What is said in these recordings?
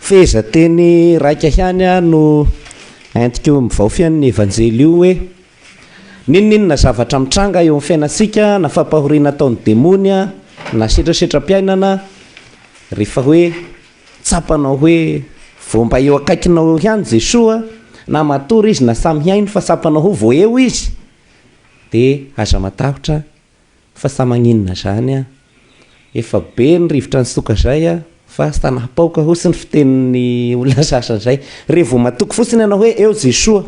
Feheza teny raika ihany no entiko mivaofy an' ny Evanjely io hoe, N'inon'inona zavatra mitranga eo amin' ny fiainantsika na fampahoriana ataon'ny demony na setrasetram-piainana, rehefa hoe tsapanao hoe vao mba eo akaikinao eo ihany Jesoa, na matory Izy na samy hainy fa tsapanao ho vao eo Izy, dia aza matahotra, Fa sa maninona zany a! Efa be ny rivotra nisoka zay a! Fa sa napaoka hozy ny fitenin'ny olona sasany zay! Re vao matoky fotsiny ianao hoe eo Jesoa!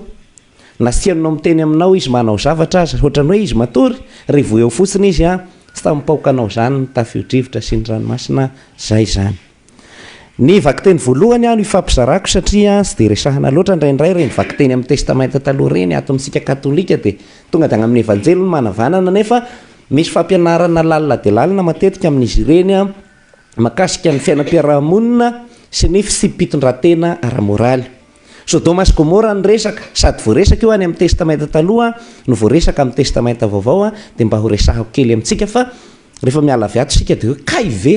Nasianao miteny aminao izy manao zavatra aza, ohatran'ny hoe izy matory, re vao eo fotsiny izy a! Sa mipaoka anao zany ny tafio-drivotra sy ny ranomasina zay zany! Ny vakiteny voalohany aho no ifampizarako satria tsy dia resahina loatra indraindray ireny vakiteny amin'ny Testamenta Taloha ireny ato amintsika Katolika dia tonga dia any amin'ny Evanjely no manavanana nefa misy fampianarana lalina dia lalina matetika amin'izy ireny makasika ny fiainam-piaraha-monina sy ny fitsipi-pitondran-tena ara-moraly. Sodoma sy Gomora no resaka, sady voaresaka io any amin'ny Testamenta Taloha no voaresaka amin'ny Testamenta Vaovao dia mba horesahako kely amintsika fa rehefa miala avy ato isika dia hoe kay ve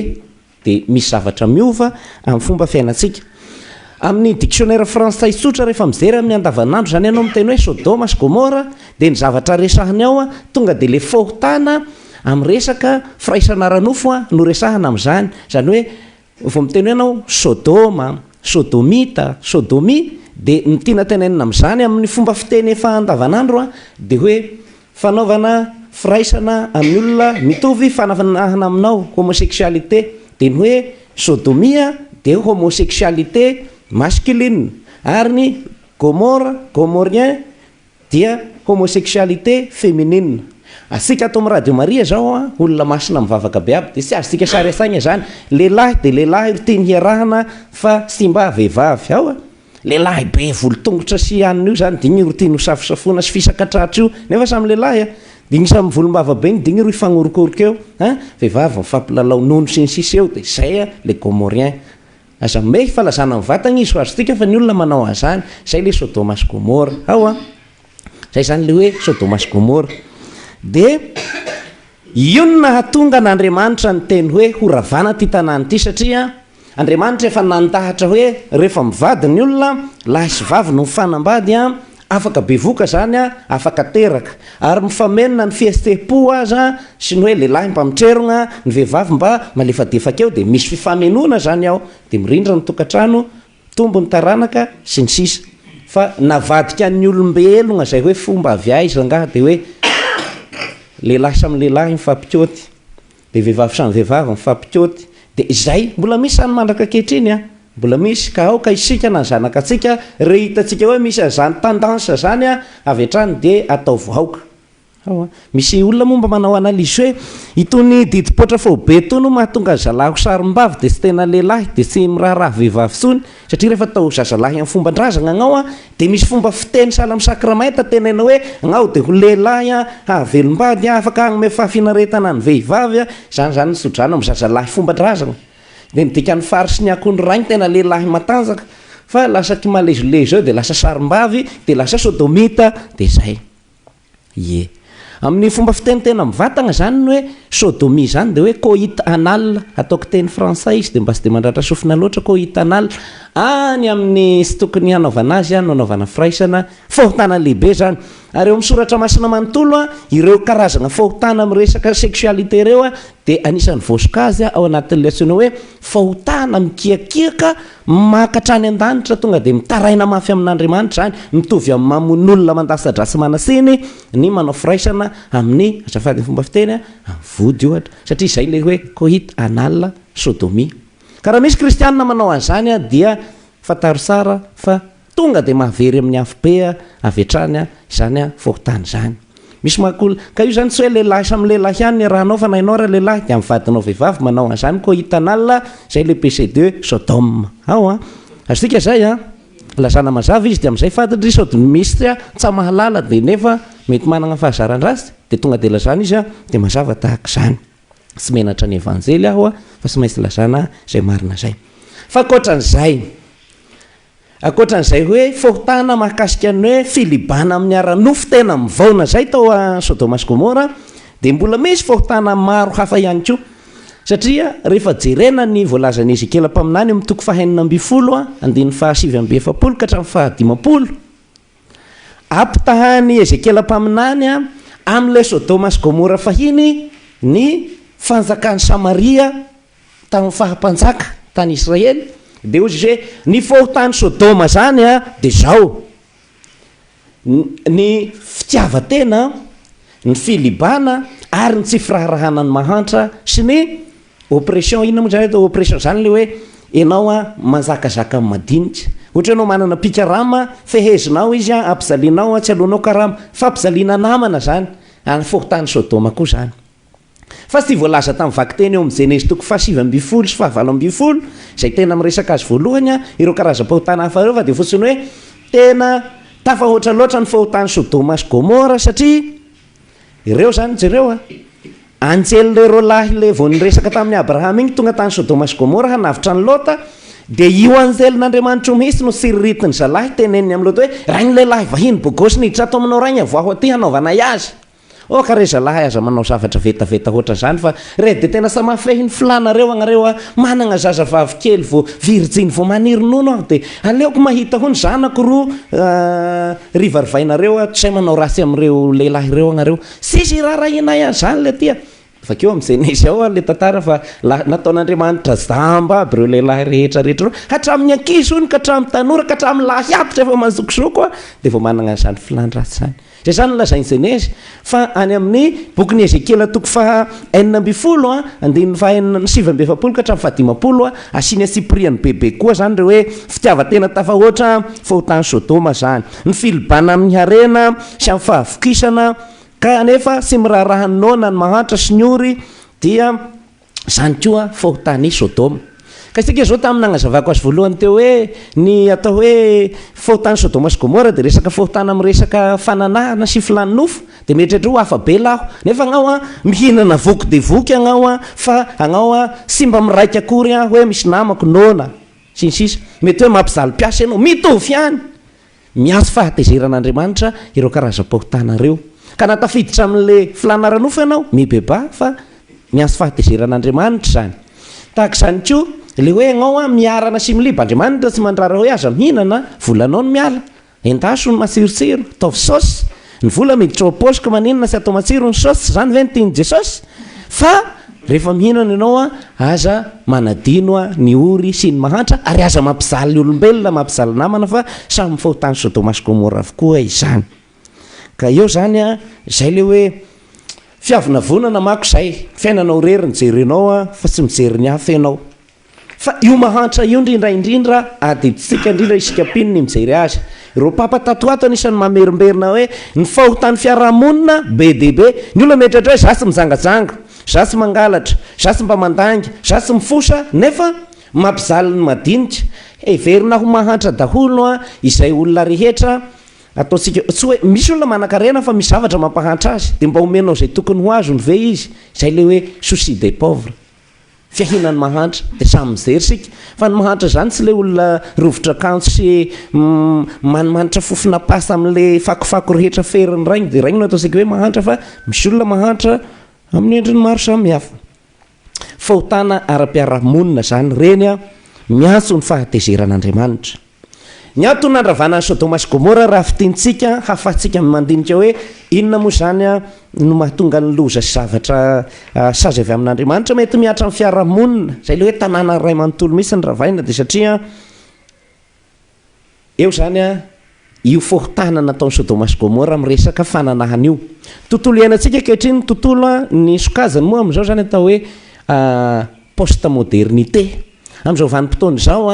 dia misy zavatra miova amin'ny fomba fiainantsika. Amin'ny diksionera frantsay tsotra, rehefa mijery amin'ny andavanandro izany ianao, miteny hoe Sodoma sy Gomora, dia ny zavatra resahiny ao, tonga dia ilay fahotana amin'ny resaka firaisana ara-nofo no resahina amin'izany. Izany hoe, vao miteny hoe ianao Sodoma, Sodomita, Sodomia, dia ny tiana tenenina amin'izany amin'ny fomba fiteny efa andavanandro dia hoe Fanaovana firaisana amin'ny olona mitovy fananahana aminao, homosexualité, dia ny hoe sodomia dia homosexualité masculine, ary ny gomora, gomorien, dia homosexualité feminine. Atsika ato amin'ny Radio Maria izao an, olona masina mivavaka be aby, dia tsy azontsika sary an-tsaina izany. Lehilahy dia lehilahy ro tiany hiarahana fa simba vehivavy. Ao an! Lehilahy be volo tongotra sy anona io zany dingiro ity nosafosafoina sy fisaka tratra io nefa samy lehilahy a! Dingiro samy volombava be ny dingiro hifanorokoroka eo a! Vehivavy mifampilalao nono sy ny sisa eo dia zay a! Le gomorien. Aza mimehy fa lazana ny vatagna izy fa azontsika fa ny olona manao an'zany. Zay le sodoma sy gomora. Ao a! Zay zany le hoe sodoma sy gomora. De io no nahatonga an'Andriamanitra niteny hoe horavana ity tanàna ity satria Andriamanitra efa nandahatra hoe rehefa mivady ny olona, lahy sy vavy no mifanambady, afaka bevoka izany, afaka teraka, ary mifamenona ny fihetstem-po aza sy ny hoe lehilahy mba mitrerogna, ny vehivavy mba malefadefaka eo, dia misy fifamenoana izany ao, dia mirindra ny tokantrano, mitombo ny taranaka, sy ny sisa Fa navadika ny olombelogna izay hoe fomba avy aiza angaha dia hoe lehilahy samy lehilahy mifampikaoty? Dia vehivavy samy vehivavy mifampikaoty. Dia izay. Mbola misy izany mandraka ankehitriny an! Mbola misy, ka aoka isika na ny zanakatsika, re hitantsika hoe misy an'izany tendance izany an, avy hatrany dia ataovy aoka. Ao an! Misy olona moa mba manao analyse hoe, itony didim-poatra faobe itony no mahatonga ny zalahy ho sarimbavy dia tsy tena lehilahy, dia tsy miraharaha vehivavy intsony. Satria rehefa atao zazalahy amin'ny fomban-drazagna agnao an, dia misy fomba fiteny sahala amin'ny sakramenta teneno hoe, agnao dia ho lehilahy an, hahavelom-bady an, afaka hagnome fahafinaretana ny vehivavy an, izany izany ny tso-drano amin'ny zazalahy fomban-drazagna. Dia midika ny fary sy ny akoho ny rainy tena lehilahy matanjaka, fa lasa kimalezolezo eo dia lasa sarimbavy, dia lasa sodomita, dia izay. Ie. Amin'ny fomba fiteny tena mivatagna izany ny hoe sodomie izany dia hoe coit anal, ataoko teny frantsay izy dia mba tsy dia mandratra sofina loatra, coit anal. Any amin'ny tsy tokony hanaovana azy no anaovana firaisana, fahotana lehibe izany. Ary eo amin'ny soratra masina manontolo, ireo karazagna fahotana amin'ny resaka sexualité ireo dia anisan'ny voasokajy ao anatin'ilay antsoina hoe fahotana mikiakiaka, Maka hatrany an-danitra, tonga dia mitaraina mafy amin'Andriamanitra izany, mitovy amin'ny mamono olona mandasa-dra sy manasiny ny manao firaisana amin'ny, azafady ny fomba fiteny an, amin'ny vody ohatra, satria izay ilay hoe coit anal, sodomie. Ka raha misy kristianina manao an'izany dia fantaro tsara fa Tonga dia mahavery amin'ny afobe avy hatrany izany fokontany izany. Misy mahakoly, ka io izany tsy hoe lehilahy samy lehilahy ihany ny rahanao fa na ianao ary lehilahy dia amin'ny vadinao vehivavy manao an'izany koa hitan'Allah izay le péché de Sodome ao an! Azontsika izay an! Lazana mazava izy dia amin'izay fa dry sodomistes tsa mahalala dia nefa mety manana fahazaran-dratsy dia tonga dia lazana izy an! Dia mazava tahaka izany. Tsy menatra ny Evanjely aho fa tsy maintsy lazana izay marina izay. F'ankoatran'izay, Ankoatra an'izay hoe fahotana mahakasika ny hoe filibana amin'ny ara-nofo tena mivaona izay tao Sodoma sy Gomora dia mbola misy fahotana maro hafa ihany koa. Satria rehefa jerena ny voalazan'i Ezekiela mpaminany amin'ny toko fahenina ambin'ny folo andininy fahasivy amby efapolo ka hatramin'ny fahadimampolo, ampitahan'i Ezekiela mpaminany amin'ilay Sodoma sy Gomora fahiny ny fanjakan'i Samaria, Tamin'ny faha mpanjaka tany Israely, dia hozy izy hoe, Ny fahotan'i Sodoma izany dia izao, Ny fitiavan-tena, ny filibana ary ny tsy firaharahana ny mahantra sy ny oppression. Inona moa izany atao hoe oppression? Izany ilay hoe ianao manjakazaka amin'ny madinika. Ohatra hoe ianao manana mpikarama, fehezinao izy, ampijalianao, tsy aloanao karama. Fampijaliana namana izany. Ary ny fahotan'i Sodoma koa izany. Fa tsy voalaza tamin'ny vakiteny eo amin'ny Genesy toko fahasivy ambin'ny folo sy fahavalo ambin'ny folo, izay tena miresaka azy voalohany, ireo karazam-pahotana hafa ireo, fa dia fotsiny hoe tena tafahoatra loatra ny fahotan'i Sodoma sy Gomora, satria ireo izany, jereo a, anjely ilay roalahy ilay vao niresaka tamin'i Abrahama iny tonga tany Sodoma sy Gomora hanavotra an'i Lota, dia io anjelin'Andriamanitra io mihitsy no tsiriritin'ny zalahy, teneniny amin'i Lota hoe, Rain'ny lehilahy vahiny bogosy niditra ato aminao rainga, voaho aty hanaovanay azy. Oh ka re zalahy aza manao zavatra vetaveta hoatra zany fa re de tena sa mafehy ny filanareo agnareo a! Managna zaza vavy kely vo virjiny vo maniry nono aho de aleoko mahita ho ny zanako ro rivarivainareo a! Tsy hay manao ratsy amreo lehilahy reo agnareo! Tsisy irarahianay an zany le aty a! Vakio am Genese ao ary le tantara fa nataon Andriamanitra jamba aby reo lehilahy rehetra rehetra reo hatram ny ankizy hono ka hatram tanora ka hatram lahy aby zay efa mazokizoko a de vao managna zany filan ratsy zany zay zany lazain Genese fa any am ny bokin i Ezekiela toko faha enina ambin'ny folo a andininy faha enina sivy amby efapolo ka hatram faha dimampolo a asiny antsipiriany bebe koa zany reo hoe fitiavatena tafahoatra fahotan Sodoma zany ny filibana am ny harena sy am fahavokisana Ka anefa tsy miraharaha ny noana ny mahantra sy ny ory dia izany koa fahotana i Sodoma. Ka isika izao tamin'ny nagnazavako azy voalohany teo hoe ny atao hoe fahotan'i Sodoma sy Gomora dia resaka fahotana amin'ny resaka fananahana sy filàn'ny nofo dia mieritreritra hoe ho hafa be laho nefa agnao an mihinana voky dia voky agnao an fa agnao an tsy mba miraika akory an hoe misy namako noana sy ny sisa mety hoe mampijaly mpiasa ianao mitovy ihany Miantso fahatezeran'Andriamanitra ireo karazam-pahotana ireo. Ka na tafiditra amin'ilay filàna ara-nofo ianao, mibebaha fa miantso fahatezeran'Andriamanitra izany. Tahaka izany koa ilay hoe ianao miharana sy miliba, Andriamanitra tsy mandrara hoe aza mihinana, volanao no miala. Endaso ny matsirotsiro, ataovy saosy. Ny vola miditra ao am-paosy ka maninona tsy atao matsiro ny saosy, tsy izany ve no tian'i Jesosy? Fa rehefa mihinana ianao an, aza manadino an, ny ory sy ny mahantra, ary aza mampijaly olombelona, mampijaly namana fa samy fahotan'i Sodoma sy Gomora avokoa izany. Ka eo izany an, izay ilay hoe fiavonavonana manko izay, fiainanao irery no jerenao an, fa tsy mijery ny hafa ianao. Fa io mahantra io ndry indray indrindra adidintsika indrindra isika mpino ny mijery azy. Ireo papa tato ho ato anisan'ny mamerimberina hoe ny fahotan'ny fiarahamonina be dia be. Ny olona mieritreritra hoe za tsy mijangajanga, za tsy mangalatra, za tsy mba mandainga, za tsy mifosa nefa mampijaly ny madinika. Heverina ho mahantra daholo izay olona rehetra ataontsika. Tsy hoe misy olona manankarena fa misy zavatra mampahantra azy dia mba omenao izay tokony ho azony ve izy? Izay ilay hoe souci des pauvres. fiahianan'ny mahantra dia samy mijery isika fa ny mahantra izany tsy ilay olona rovitra akanjo sy manimanitra fofona pasta amin'ilay fakofako rehetra ferin'ny rainy dia rainy no ataontsika hoe mahantra fa misy olona mahantra amin'ny endriny maro samihafa. Fahotana ara-piarahamonina izany ireny miantso ny fahatezeran'Andriamanitra. Ny antony nandravana an'i Sodoma sy Gomora raha fintintsika, hahafahantsika ny mandinika hoe inona moa izany no mahatonga ny loza sy zavatra sazy avy amin'Andriamanitra. Mety mihatra amin'ny fiarahamonina, izay ilay hoe tanàna iray manontolo mihitsy no ravaina, dia satria eo izany io foron-tàna nataon'i Sodoma sy Gomora amin'ny resaka fananahana io. Ny tontolo iainantsika ankehitriny, ny tontolo, ny sokajiny moa amin'izao izany atao hoe post-modernité. Amin'izao vanim-potoana izao,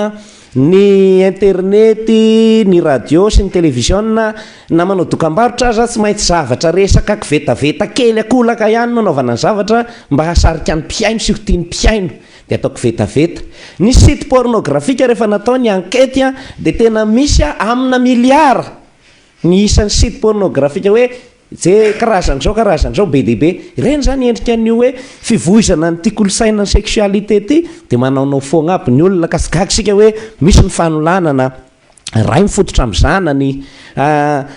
ny internety, ny radio sy ny televiziona, na manao dokam-barotra aza, tsy maintsy zavatra resaka kivetaveta kely an-kolaka ihany no anaovana ny zavatra mba hahasarika ny mpihaino sy ho tian'ny mpihaino, dia atao kivetaveta. Ny site pornografika rehefa natao ny ankety dia tena misy amina miliara ny isan'ny site pornografika hoe Ze karazany zao karazany zao be dia be, ireny zany endrika ny hoe fivoizana an'ity kolosaina ny sexualité ty de manaonao foagna aby ny olona ka tsy gaga isika hoe misy ny fanolanana Ray mifototra amin'ny zanany,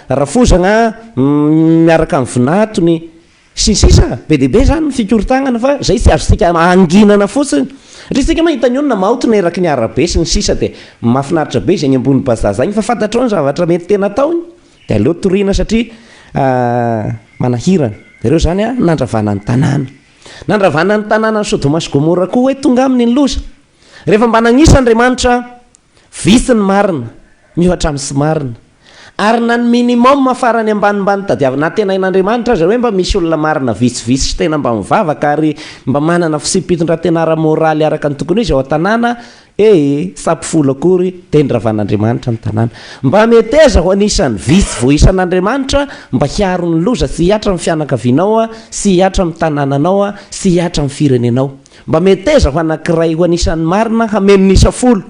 rafozagna miaraka amin'ny vinantony sy ny sisa Be dia be zany ny fikorontagnana fa zay tsy azontsika hanginana fotsiny satria isika ma hita ny olona maotina eraky ny arabe sy ny sisa de mafinaritra be zegny ambony bazah zegny fa fantatrao ny zavatra mety tena ataony Dia aleo toriana satria manahirana. Ireo izany nandravana ny tanàna. Nandravana ny tanànan'i Sodoma sy Gomora koa hoe tonga aminy ny loza. Rehefa mba nanisa Andriamanitra, vitsy ny marina miohatra amin'ny tsy marina. Ary na ny minimum farany ambanimbany tadiavina antenain'Andriamanitra aza hoe mba misy olona marina vitsivitsy sy tena mba mivavaka ary mba manana fitsipi-pitondran-tena ara-moraly araka ny tokony ho izy ao an-tanàna, Ee, sa mpifola akory teny ravan'Andriamanitra ny tanàna? Mba meteza ho anisan'ny vitsy voaisan'Andriamanitra mba hiaro ny loza sy hihatra amin'ny fianakavianao sy hihatra amin'ny tanànanao sy hihatra amin'ny firenenao. Mba meteza ho anankiray ho anisan'ny marina hameno ny isa folo.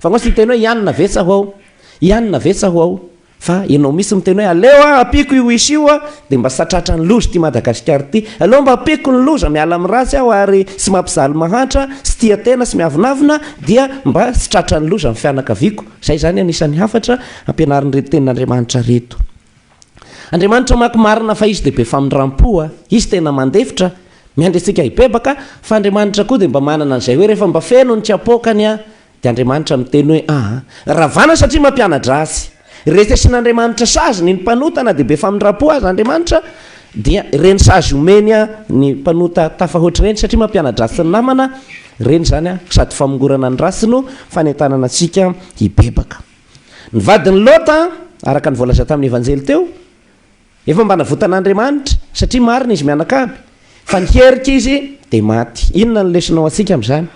Fa angaha tsy hiteny hoe, Ianona ve sa ho ao? Ianona ve sa ho ao? Fa enao mihitsy miteny hoe aleo ah ampiako io isa io ah dia mba satratra ny loza ity Madagascar ity. Aleo mba ampiako ny loza miala amin'ny ratsy aho ary sy mampijaly mahantra sy tia tena sy miavonavona dia mba tsy tratran'ny loza ny fianakaviako. Izay izany anisan'ny hafatra ampianarin'ireto tenin'Andriamanitra ireto. Andriamanitra manko marina fa izy dia be famindrampo a. Izy tena mandefitra, miandry antsika hibebaka fa Andriamanitra koa dia mba manana an'izay hoe rehefa mba feno ny tsy apoakany a Dia Andriamanitra miteny hoe, Aa. Ravana satria mampianadra Azy. Rehefa asian'Andriamanitra sazy ny ny mpanota na dia be famindram-po aza Andriamanitra dia ireny sazy omeny ny mpanota tafahoatra ireny satria mampianadra Azy sy ny namana ireny izany an, sady famongorana ny ratsy no fanentanana antsika hibebaka. Ny vadin'i Lota, araka ny voalaza tamin'ny Evanjely teo, Efa mba navotan'Andriamanitra satria marina izy mianakavy fa niherika izy dia maty. Inona no lesona ho antsika amin'izany?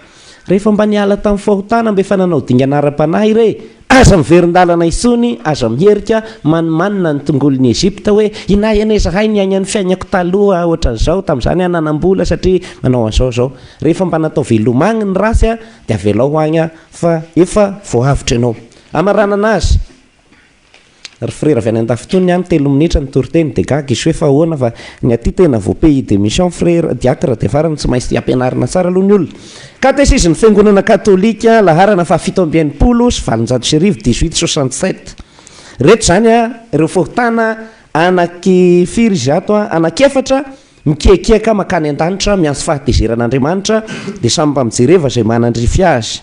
Rehefa mba niala tamin'ny fahotana mba efa nanao dingana ara-panahy irey, aza miverin-dalana intsony, aza miherika manimanina ny tongolon'i Egypta hoe, Inay anie izahay niaina ny fiainako taloha ohatran'izao, tamin'izany aho nanam-bola satria nanao an'izao izao. Rehefa mba natao veloma agny ny ratsy dia avelao agny fa efa voahavotra ianao. Hamaranana azy. Ry frera avy any andafy tony an, telo minitra ny toriteny dia gaga izy hoe fa ahoana fa ny aty tena vao pays de mission frera, diacre dia farany tsy maintsy ampianarina tsara aloha ny olona. Katesizy ny fiangonana katolika, laharana faha fito amby enimpolo sy valonjato sy arivo, dix huit soixante sept. Reto izany an, ireo fahotana anaky firy izy ato an, anaky efatra, mikiakiaka makany an-danitra miantso fahatezeran'Andriamanitra dia samy mba mijereva izay manandrify azy.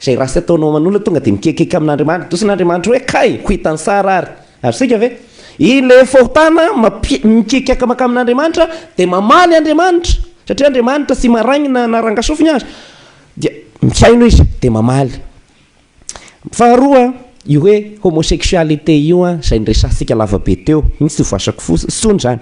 Izay ratsy ataonao aman'olona tonga dia mikekeka amin'Andriamanitra. Dosina Andriamanitra hoe kay, ko hitan'i Sara ary. Ary isika ve? Ilay fahotana mampi, mikekaka mankamy Andriamanitra dia mamaly Andriamanitra. Satria Andriamanitra tsy marainina na rangasofina aza. Dia mihaino izy dia mamaly. Faharoa, io hoe homosexualité io an, izay niresahantsika lavabe teo, iny tsy ho voasako fo, tsony izany.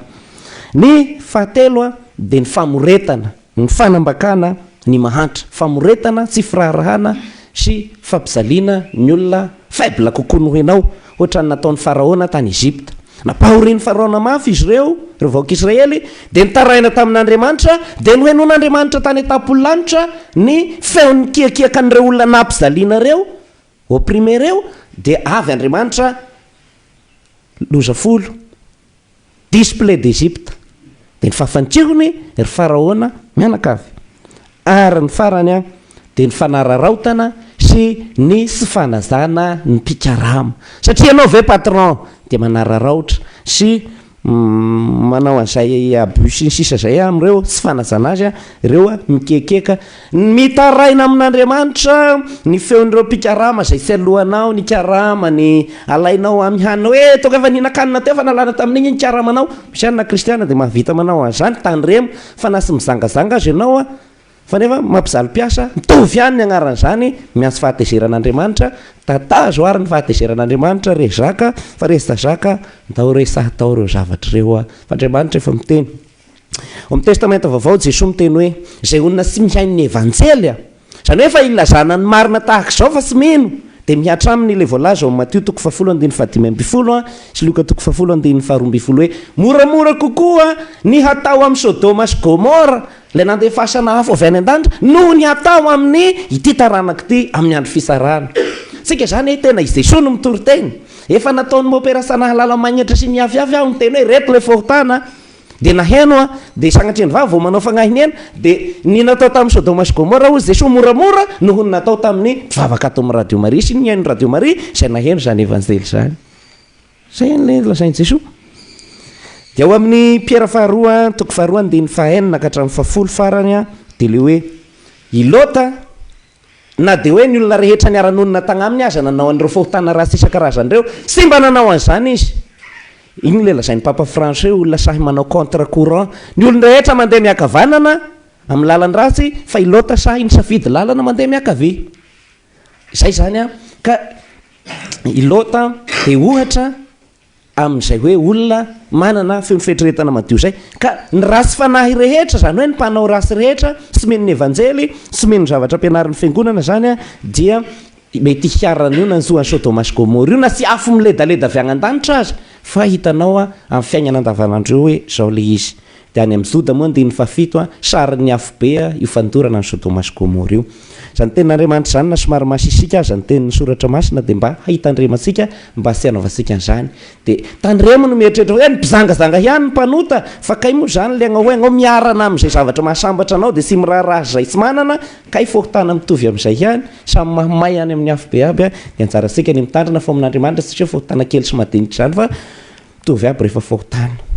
Ny fahatelo an, dia ny famoretana. Ny fanambakana ny mahantra, famoretana, tsy firaharahana sy fampijaliana ny olona faible kokoa noho ianao, hoatran'ny nataon'i Faraona tany Egypta. Nampahorian'i Faraona mafy izy ireo, ireo vahoaka Israely, dia nitaraina tamin'Andriamanitra, dia nohenoin'Andriamanitra tany an-tampony lanitra ny feon'ny mikiakiakan'ireo olona nampijaliana ireo, opprimé ireo, dia avy Andriamanitra loza folo Display d'Egypte, dia ny fahafantirony, ry Faraona, mianakavy. Ary ny farany an, dia ny fanararaotana sy ny tsy fanajana ny mpikarama. Satria ianao ve patron dia manararaotra sy manao an'izay abus sy ny sisa izay amin'ireo tsy fanajana azy an, ireo mikekeka. Ny mitaraina amin'Andriamanitra ny feon'ireo mpikarama izay fialohanao ny karamany alainao amy hanina hoe toaka efa nihinan-kanina teo fa nalana tamin'igny ny karamanao, misy ihany na kristiana dia mahavita manao an'izany, tandremo fa na tsy mizangazanga aza ianao an, fa nefa mampijaly mpiasa, mitovy ihany ny agnaran'izany, miantso fahatezeran'Andriamanitra, tatazo ary ny fahatezeran'Andriamanitra, re zaka fa resy tazaka, ndao resahy tao ireo zavatra ireo fa Andriamanitra efa miteny. Ao amin'ny Testamenta Vaovao, Jesoa miteny hoe, Izay olona tsy mihaino ny Evanjely, a. Izany hoe efa ilazana ny marina tahaka izao fa tsy mino, dia mihatra aminy ilay voalaza ao amin'ny Matio toko fahafolo andininy fahadimy ambin'ny folo a, sy Lioka toko fahafolo andininy faharoa ambin'ny folo hoe, Moramora kokoa ny hatao amin'i Sodoma sy Gomora, ilay nandefasana afo avy any an-danitra, noho ny hatao amin'ny ity taranaka ity amin'ny andro fitsarana. Tsika izany hoe tena i Jesoa no mitory teny. Efa nataon'i Mopera Sanahalalamaignatra sy Miafiafy aho niteny hoe, Ireto ilay fahotana a. Dia naheno an, dia sanatria ny vava vao manao fagnahy ny aina, dia ny natao tamin'i Sodoma sy Gomora hozy Jesoa moramora noho ny natao tamin'ny mpivavaka ato amin'ny Radio Maria sy ny nihaino ny Radio Maria izay naheno izany Evanjely izany. Izay ilay lazain'i Jesoa. Dia ao amin'ny Piera faharoa, toko faharoa, andininy fahaenina ka hatramin'ny fahafolo farany dia ilay hoe i Lota Na dia hoe ny olona rehetra niara-nonina tagnaminy aza nanao an'ireo fahotana ratsy isan-karazany ireo, tsy mba nanao an'izany izy. Inona ilay lazain'ny Papa Fransoa hoe olona sahy manao contre courant? Ny olon-drehetra mandeha miankavanana amin'ny lalan-dratsy, fa i Lota sahy nisafidy lalana mandeha miankavia. Izay izany an! Ka i Lota dia ohatra. amin'izay hoe olona manana feo fieritreretana madio izay, ka ny ratsy fanahy rehetra, izany hoe ny mpanao ratsy rehetra, tsy mino ny Evanjely, tsy mino ny zavatra ampianarin'ny Fiangonana izany, dia mety hiharan'ny io nanjo an'i Sodoma sy Gomora io, na tsy afo miledaleda avy agny an-danitra aza, fa hitanao amin'ny fiaignana andavanandro eo hoe izao ilay izy. Dia any amin'ny Joda moa andininy fahafito a, sarin'ny afobe a, io fandorana an'i Sodoma sy Gomora io. Izany tenin'Andriamanitra izany na somary masisika aza ny tenin'ny soratra masina dia mba hahitandremantsika mba tsy hanaovantsika an'izany. Dia tandremo ny mieritreritra hoe ny mpizangazanga ihany ny mpanota fa kay moa izany ilay anao hoe anao miarana amin'izay zavatra mahasambatra anao dia tsy miraharaha izay tsy manana, kay fokontana mitovy amin'izay ihany, samy mahamay any amin'ny afobe aby a, dia anjarantsika ny mitandrina fo amin'Andriamanitra tsy hoe fokontana kely sy madinika izany fa mitovy aby rehefa fokontana.